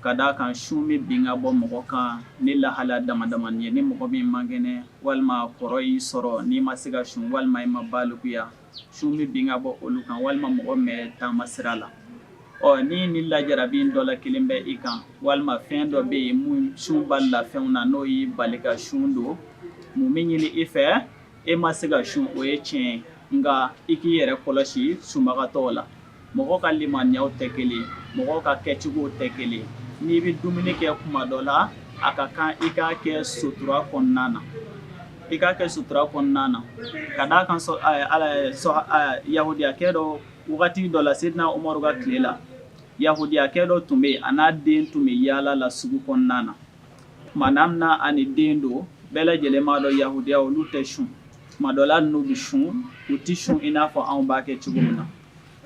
ka d' a kan sun bɛ bin ka bɔ mɔgɔ kan ni lahala damadamanin ye ni mɔgɔ min man kɛnɛ walima kɔrɔ y'i sɔrɔ n'i ma se ka sun walima i ma balikuya sun bɛ bin ka bɔ olu kan walima mɔgɔ mɛ taama sira la ɔ ni ni lajɛra bɛ dɔ la kelen bɛ i kan walima fɛn dɔ bɛ yen min sun bali la fɛnw na n'o y'i bali ka sun don mun bɛ ɲini i fɛ e ma se ka sun o ye tiɲɛ nka i k'i yɛrɛ kɔlɔsi sunbagatɔw la mɔgɔ ka limaniyaw tɛ kelen, mɔgɔ ka kɛcogow tɛ kelen, n'i bɛ dumuni kɛ tuma dɔ la, a ka kan i k'a kɛ sutura kɔnɔna na, i k'a kɛ sutura kɔnɔna na, ka d'a kan yahudiyakɛ dɔ wagati dɔ la Seyidina Umaru ka tile la, yahudiyakɛ dɔ tun bɛ yen a n'a den tun bɛ yaala la sugu kɔnɔna na, tuma min na a ni den don bɛɛ lajɛlen b'a dɔn yahudiya olu tɛ sun Tuma dɔ la n'u bɛ sun u tɛ sun i n'a fɔ anw b'a kɛ cogo min na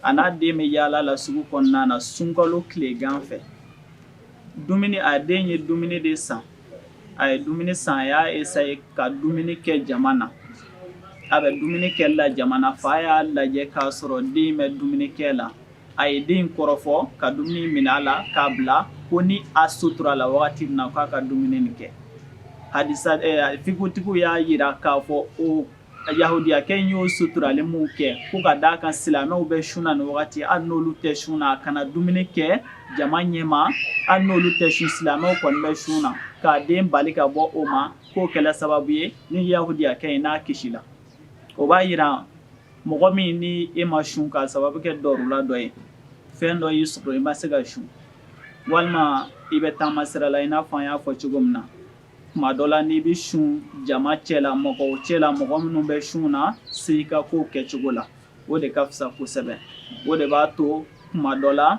a n'a den bɛ yaala la sugu kɔnɔna na sunkalo tile gan fɛ dumuni a den ye dumuni de san a ye dumuni san a y'a essayer ka dumuni kɛ jama na a bɛ dumuni kɛ la jama na fa y'a lajɛ k'a sɔrɔ den bɛ dumunikɛ la a ye den kɔrɔfɔ ka dumuni minɛ a la k'a bila ko ni a suturala wagati min na k'a ka dumuni nin kɛ halisa fikutigiw y'a jira k'a fɔ o yahudiyakɛ in y'o suturali min kɛ ko ka d'a kan silamɛw bɛ sun na ni wagati hali n'olu tɛ sun na a kana dumuni kɛ jama ɲɛma hali n'olu tɛ sun silamɛw kɔni bɛ sun na k'a den bali ka bɔ o ma k'o kɛla sababu ye ni yahudiyakɛ in n'a kisi la o b'a jira Mɔgɔ min ni e ma sun k'a sababu kɛ dɔrura dɔ ye fɛn dɔ y'i sɔrɔ i ma se ka sun walima i bɛ taama sira la i n'a fɔ an y'a fɔ cogo min na tuma dɔ la n'i bɛ sun jama cɛ la mɔgɔ cɛ la mɔgɔ minnu bɛ sun na se i ka kow kɛcogo la o de ka fisa kosɛbɛ o de b'a to kuma dɔ la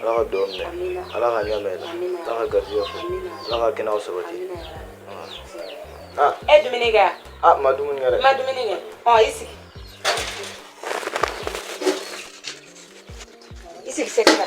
ala ka dɔn minɛ ala ka ɲa mɛn ala ka garijɛ fɔ ala ka kɛnɛya sabati ah. e dumuni kɛ ah, ma dumuni kɛ dɛ ma dumuni kɛ ɔ i sigi i sigi sɛgɛ la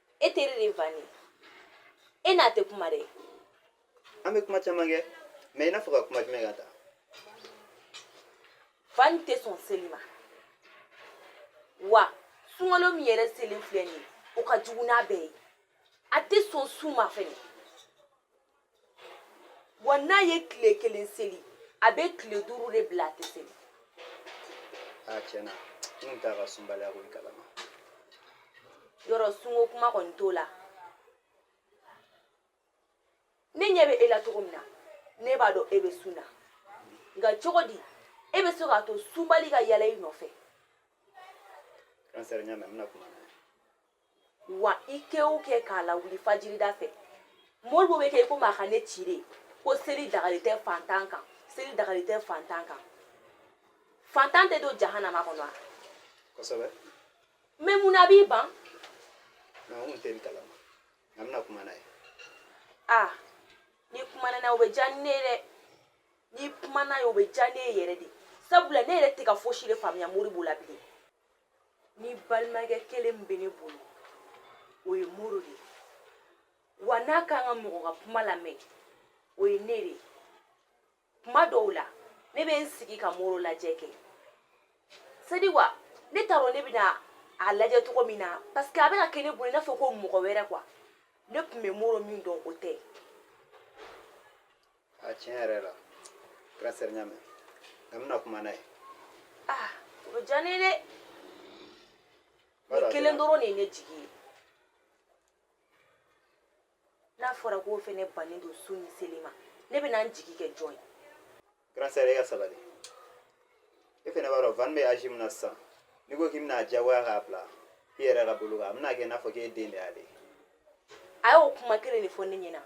e teri de vani e n'a tɛ kuma dɛ an bɛ kuma caman kɛ mais i n'a fɔ ka kuma jumɛn ka ta vani tɛ sɔn seli ma wa sunkalo min yɛrɛ selen filɛ nin ye o ka jugu n'a bɛɛ ye a tɛ sɔn sun ma fɛnɛ wa n'a ye tile kelen seli a bɛ tile duuru de bila a tɛ seli a tiɲɛ na n kun t'a ka sunbaliya ko in kalama yɔrɔ sunko kuma kɔni t'o la ne ɲɛ bɛ e la cogo min na ne b'a dɔn e bɛ sun na nka cogo di e bɛ se k'a to sunbali ka yaala i nɔfɛ kansɛri ɲa mɛ n bɛna kuma na wa i kɛ o kɛ k'a lawuli fajirida fɛ moribo bɛ kɛ i komi a ka ne ci de ko seli dagalen tɛ fantan kan seli dagalen tɛ fantan kan fantan tɛ don jahanama kɔnɔ wa kosɛbɛ mais mun na a b'i ban mais n tun tɛ nin kalama nka n bɛna kuma n'a ye a n'i kumana n'a ye o bɛ diya ne ye dɛ n'i kumana n'a ye o bɛ diya ne ye yɛrɛ de sabula ne yɛrɛ tɛ ka fosi de faamuya moribo la bilen ni balimakɛ kelen min bɛ ne bolo o ye moro de ye wa n'a kan ka mɔgɔ ka kuma lamɛn o ye ne de ye kuma dɔw la ne bɛ n sigi ka moro lajɛ kɛ sadi wa ne t'a dɔn ne bɛna a lajɛ cogo min na parce que a bɛ ka kɛ ne bolo i n'a fɔ ko mɔgɔ wɛrɛ quoi ne tun bɛ moro min dɔn o tɛ Ah, tiɲɛ yɛrɛ la grande sœur n y'a mɛn nka n bɛna kuma n'a ye ah o bɛ diya ne ye dɛ nin kelen dɔrɔn de ye ne jigi ye n'a fɔra k'o fɛnɛ bannen don sun ni seli ma ne bɛna n jigi kɛ jɔn ye grande sœur e ka sabali e fɛnɛ b'a dɔn van bɛ âge min na sisan n'i ko k'i bɛna a diyagoya k'a bila i yɛrɛ ka bolo kan a bɛna kɛ i n'a fɔ k'e den de y'ale ye a y'o kuma kelen de fɔ ne ɲɛna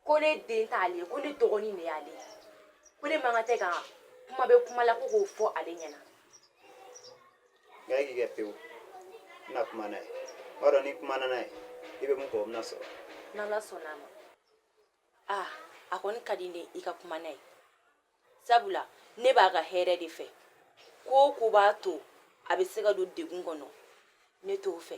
ko ne den t'ale ye ko ne dɔgɔnin de y'ale ye ko ne man kan tɛ ka kuma bɛ kuma la ko k'o fɔ ale ɲɛna nka e k'i kɛ pewu n na kuma n'a ye n b'a dɔn n'i kumana n'a ye i bɛ min kɔ o bɛna sɔrɔ n'ala sɔnna a ma a a kɔni ka di ne ye i ka kuma n'a ye sabula ne b'a ka hɛrɛ de fɛ ko o ko b'a to a bɛ se ka don degun kɔnɔ ne t'o fɛ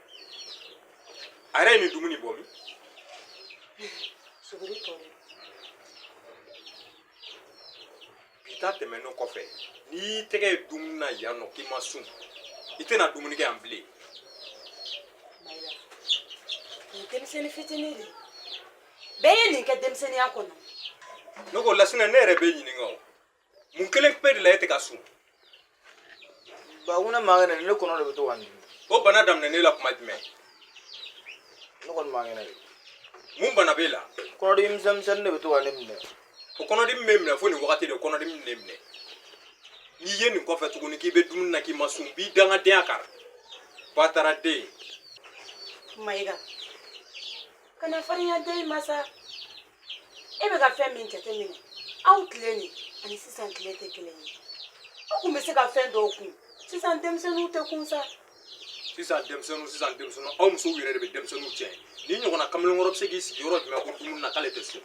a yɛrɛ ye nin dumuni bɔ min suguri tɔ de bi ta tɛmɛnen kɔfɛ ni n y'i tɛgɛ ye dumuni na yan nɔ k'i ma sun i tɛna dumuni kɛ yan bilen mayiga nin denmisɛnnin fitinin de bɛɛ ye nin kɛ denmisɛnninya kɔnɔ ne ko lasina ne yɛrɛ b'e ɲininka o mun kelen pe de la e tɛ ka sun ba ko ne man kɛnɛ ne kɔnɔ de bɛ to ka n dimi o bana daminɛna e la tuma jumɛn ne kɔni man kɛnɛ de mun bana b'e la kɔnɔdimi misɛn misɛnnin de bɛ to ka ne minɛ o kɔnɔdimi b'e minɛ fo nin wagati de kɔnɔdimi bɛ ne minɛ n'i ye nin kɔfɛ tuguni k'i bɛ dumuni na k'i ma sun b'i dangadenya kan bataraden mayiga kana farinya den ma sa e bɛ ka fɛn min jateminɛ aw tile nin ani sisan tile tɛ kelen ye aw tun bɛ se ka fɛn dɔw kun sisan denmisɛnninw tɛ kun sa sisan denmisɛnninw sisan denmisɛnninw aw musow yɛrɛ de bɛ denmisɛnninw tiɲɛ nin ɲɔgɔnna kamalenkɔrɔ bɛ se k'i sigi yɔrɔ jumɛn ko dumuni na k'ale tɛ sun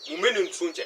mun bɛ nin sun cɛ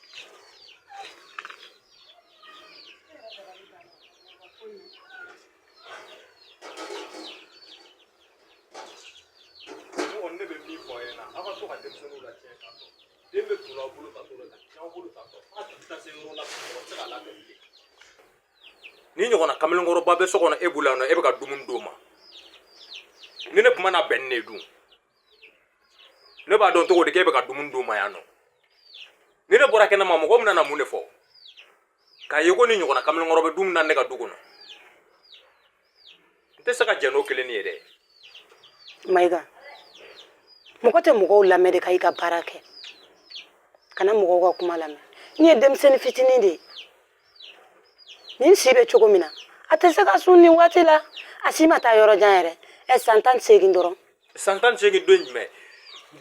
nin ɲɔgɔnna kamalenkɔrɔba bɛ so kɔnɔ e bolo yan nɔ e bɛ ka dumuni d'o ma ni ne kuma na bɛn ni ne dun ne b'a dɔn cogo di k'e bɛ ka dumuni d'o ma yan nɔ ni ne bɔra kɛnɛma mɔgɔ min nana mun de fɔ k'a ye ko nin ɲɔgɔnna kamalenkɔrɔ bɛ dumuni na ne ka du kɔnɔ n tɛ se ka jɛn n'o kelen ye dɛ mayiga mɔgɔ tɛ mɔgɔw lamɛn de ka i ka baara kɛ kana mɔgɔw ka kuma lamɛn nin ye denmisɛnnin fitinin de ye nin si bɛ cogo min na a tɛ se ka sun nin waati la a si ma taa yɔrɔ jan yɛrɛ ɛ san tan ni seegin dɔrɔn san tan ni seegin don jumɛn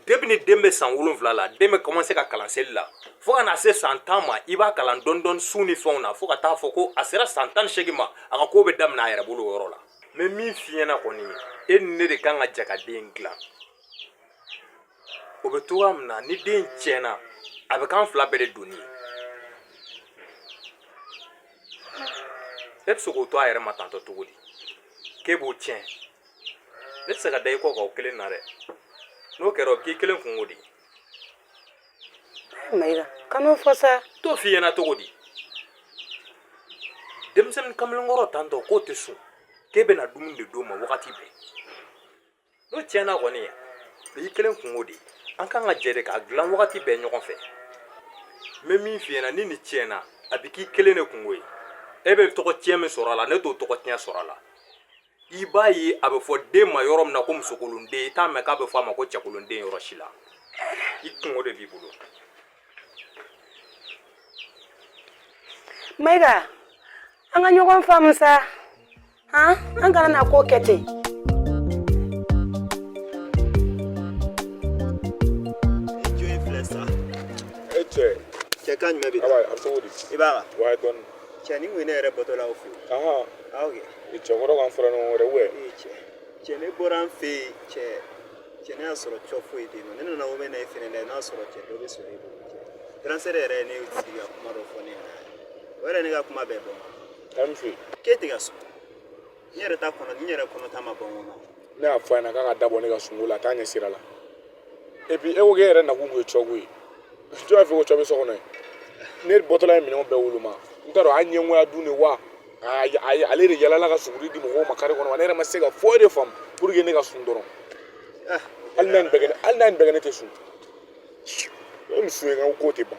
depuis ni den bɛ san wolonwula la den bɛ commencer ka kalan seli la fo ka na se san tan ma i b'a kalan dɔɔni dɔɔni sun ni fɛnw na fo ka t'a fɔ ko a sera san tan ni seegin ma a ka ko bɛ daminɛ a yɛrɛ bolo o yɔrɔ la n bɛ min f'i ɲɛna kɔni e ni ne de kan ka jɛ ka den dilan o bɛ cogoya min na ni den tiɲɛna a bɛ k'an fila bɛɛ de doni ye e bɛ se k'o to a yɛrɛ ma tantɔ cogo di k'e b'o tiɲɛ ne tɛ se ka da i kɔ kan o kelen na dɛ n'o kɛra o bɛ k'i kelen kunko de ye mayiga kan'o fɔ sa n t'o f'i ɲɛna cogo di denmisɛnnin kamalenkɔrɔ tantɔ k'o tɛ sun k'e bɛna dumuni de d'o ma wagati bɛɛ n'o tiɲɛna kɔni o y'i kelen kunko de ye an kan ka jɛ de k'a dilan wagati bɛɛ ɲɔgɔn fɛ n bɛ min f'i ɲɛna ni nin tiɲɛna a bɛ k'i kelen de kunko ye e bɛ tɔgɔtiɲɛ min sɔrɔ a la ne t'o tɔgɔtiɲɛ sɔrɔ a la i b'a ye a bɛ fɔ den ma yɔrɔ min na ko musokolonden i t'a mɛn k'a bɛ fɔ a ma ko cɛkolonden yɔrɔ si la i kunko de b'i bolo mayiga an ka ɲɔgɔn faamu sa ha an kana na ko kɛ ten jo i filɛ sa cɛ kan jumɛn bɛ i b'a cɛ ni mun ne yɛrɛ bɔtɔ la aw fɛ yen cɛkɔrɔ kan fara ɲɔgɔn wɛrɛ wɛ cɛ ne bɔra an fɛ yen cɛ cɛ ne y'a sɔrɔ cɔ foyi tɛ yen nɔ ne nana o mɛn na e fɛnɛ la n'a sɔrɔ cɛ dɔ bɛ sɔrɔ e bolo cɛ grand frère yɛrɛ ye ne sigi ka kuma dɔ fɔ ne ɲɛna o yɛrɛ ne ka kuma bɛɛ bɔ k'e tɛ ka sɔn n yɛrɛ ta kɔnɔ n yɛrɛ kɔnɔ ta ma ban o ma ne y'a fɔ a ɲɛna k'a ka da bɔ ne ka sunko la a t'a ɲɛsira la et puis e ko k'e yɛrɛ nakun tun ye cɔko ye jɔn y'a fɔ ko cɔ bɛ so kɔnɔ yen ne bɔtɔla ye minɛnw bɛɛ woloma n t'a dɔn a ɲɛngoya don de wa a y- a y- ale de yalala ka suguri di mɔgɔw ma kare kɔnɔ wa ne yɛrɛ ma se ka foyi de faamu pour que ne ka sun dɔrɔn hali n'a nin bɛɛ kɛ ne- hali n'a nin bɛɛ kɛ ne tɛ sun e ni sun ye n ka ko tɛ ban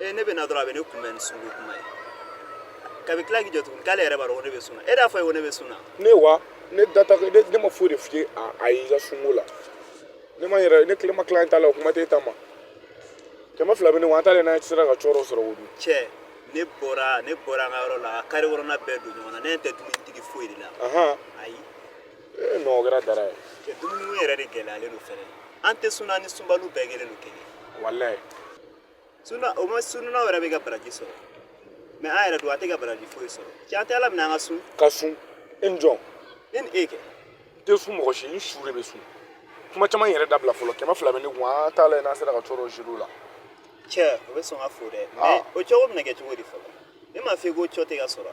ee ne bɛ na dɔrɔn a bɛ ne kunbɛn ni sunko kuma ye k'a bɛ tila k'i jɔ tuguni k'ale yɛrɛ b'a dɔn ko ne bɛ sun na e y'a fɔ a ye ko ne bɛ sun na ne wa ne da t'a la, ne ma foyi de f'i ye a- a y'i ka sunko la ne ma n yɛrɛ ne kelen ma tila n ta la o kuma tɛ e ta ma kɛmɛ fila bɛ ne kun an t'a lajɛ n'a sera ka cɔ dɔ sɔrɔ o dun cɛ ne bɔra ne bɔra an ka yɔrɔ la ka kare kɔnɔna bɛɛ don ɲɔgɔn na ne ɲɛ tɛ dumunitigi foyi de la ahan ayi ee non o kɛra baara ye cɛ dumuni ko yɛrɛ de gɛlɛyalen don fɛnɛ an tɛ sunna ni sunbaliw bɛɛ kelen don kelen walayi sunna o ma sunnaw yɛrɛ bɛ ka baraji sɔrɔ mɛ an yɛrɛ don a tɛ ka baraji foyi sɔrɔ cɛ an tɛ ala minɛ an ka sun ka sun e ni jɔn ne ni e kɛ n tɛ sun mɔgɔ si n su de bɛ sun kuma caman yɛrɛ dabila fɔlɔ kɛmɛ fila bɛ ne kun an t'a lajɛ n'an sera ka cɔ dɔ sɔrɔ o la cɛ o bɛ sɔn ka fɔ dɛ mɛ o cogo bɛna kɛ cogo di fɔlɔ ne m'a fɔ i ko cɔ tɛ ka sɔrɔ